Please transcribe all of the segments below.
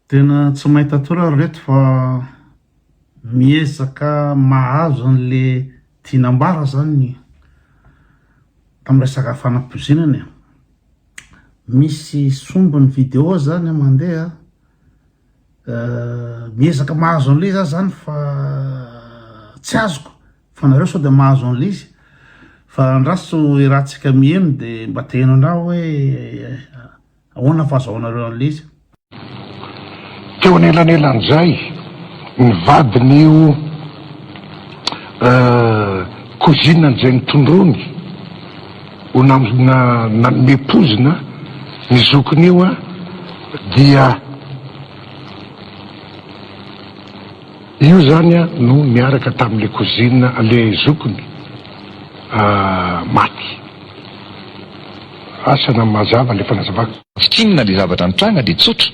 Tena tsy maita tory ry reto fa miezaka mahazo anle tiana ambara zany tam resaka fanapoizinana e, misy sombiny video zany a mandeha a, miezaka mahazo anle za zany fa tsy azoko fa nareo sao de mahazo anle izy fa andraso i ratsika miheno de mba teheno andraho hoe. Ahoana fahazahoanareo an'ilay izy? Teo anelanelan'izay, ny vadin'io cousine an'izay nitondroany ho nanome poizina ny zokiny io dia. Io zany a no niaraka tamin le cousine an le zokiny a maty. Asa na mazava le fanazavako. Tsy tsinona le zavatra nitranga de tsotra.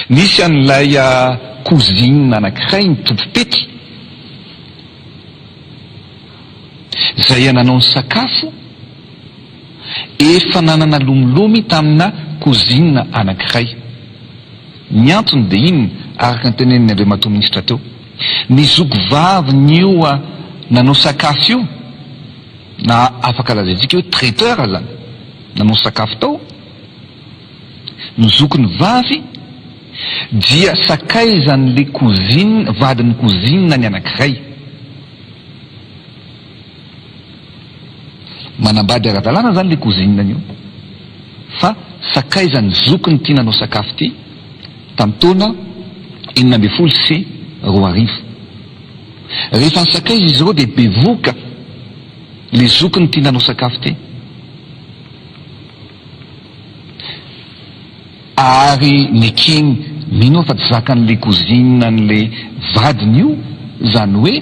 Nisy an'ilay cousine anakiray nitoby pety zay a nanao ny sakafo. efa nanana lomilomy tamina cousine anankiray. Ny antony dia inona, araka ny tenenin'i Andriamatoa Minisitra teo? Ny zoky vavin'io nanao sakafo io, na afaka lazaintsika hoe traiteur azany, nanao sakafo tao ny zokiny vavy, dia sakaizan'ilay cousine, vadin'ny cousine ny anankiray. Manambady ara-dalàna zany le cousine an'io fa sakaiza ny zokiny ty nanao sakafo ty tam taona enina ambin'ny folo sy roa arivo. Rehefa nisakaiza izy ireo dia bevoka le zokiny ty nanao sakafo ty. Ary ny king mino aho fa tsy zakan'i le cousine an'le vadiny io, zany hoe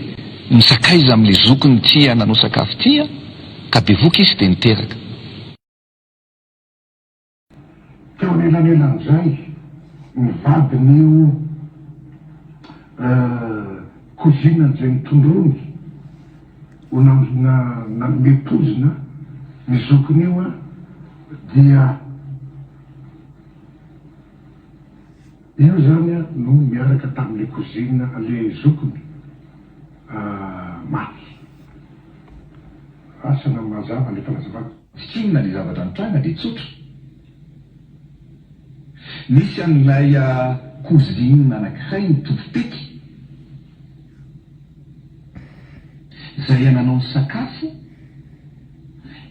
misakaiza amle zokiny tia nanao sakafo tia, ka bevoka izy de niteraka. Teo anelanelan'izay, ny vadin'io cousine an'izay nitondrony ho nanome poizina ny zokiny io dia Io zany a no niaraka tam le cousine a le zokiny a maty. Asa na mazava le fanazavana. Tsy tsinona le zavatra nitranga de tsotra. Nisy an'ilay a cousine anakiray nitovy teky zay a nanao ny sakafo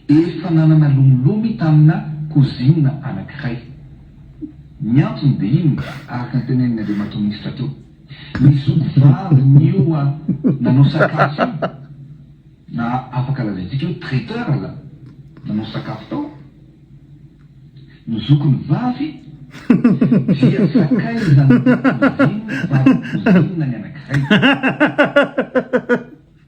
Efa nanana lomolomy tamina cousine anankiray. Ny antony dia inona? Araka ny tenenin'ny Andriamatoa Minisitra teo. Ny zoky vavy nioa nanao sakafo io, na afaka lazaintsika hoe traiteur la, nanao sakafo tao, no zokiny vavy, dia sakaizan'ny cousine, vadin'ny cousine ny anankiray.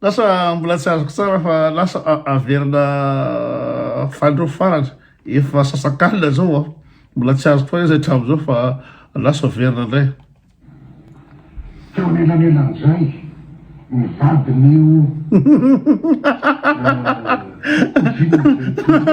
Lasa mbola tsy azoko tsara fa lasa averina fanindroa farany efa sasakalina zao a mbola tsy azoko tsara izy hatramin'izao fa lasa averina indray. Teo anelanelan'izay ny vadin'io Ozina izay teo.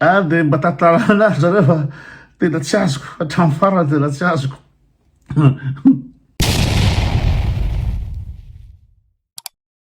ah dia mba tantarana azy zareo fa tena tsy azoko hatramin'ny farany tena tsy azoko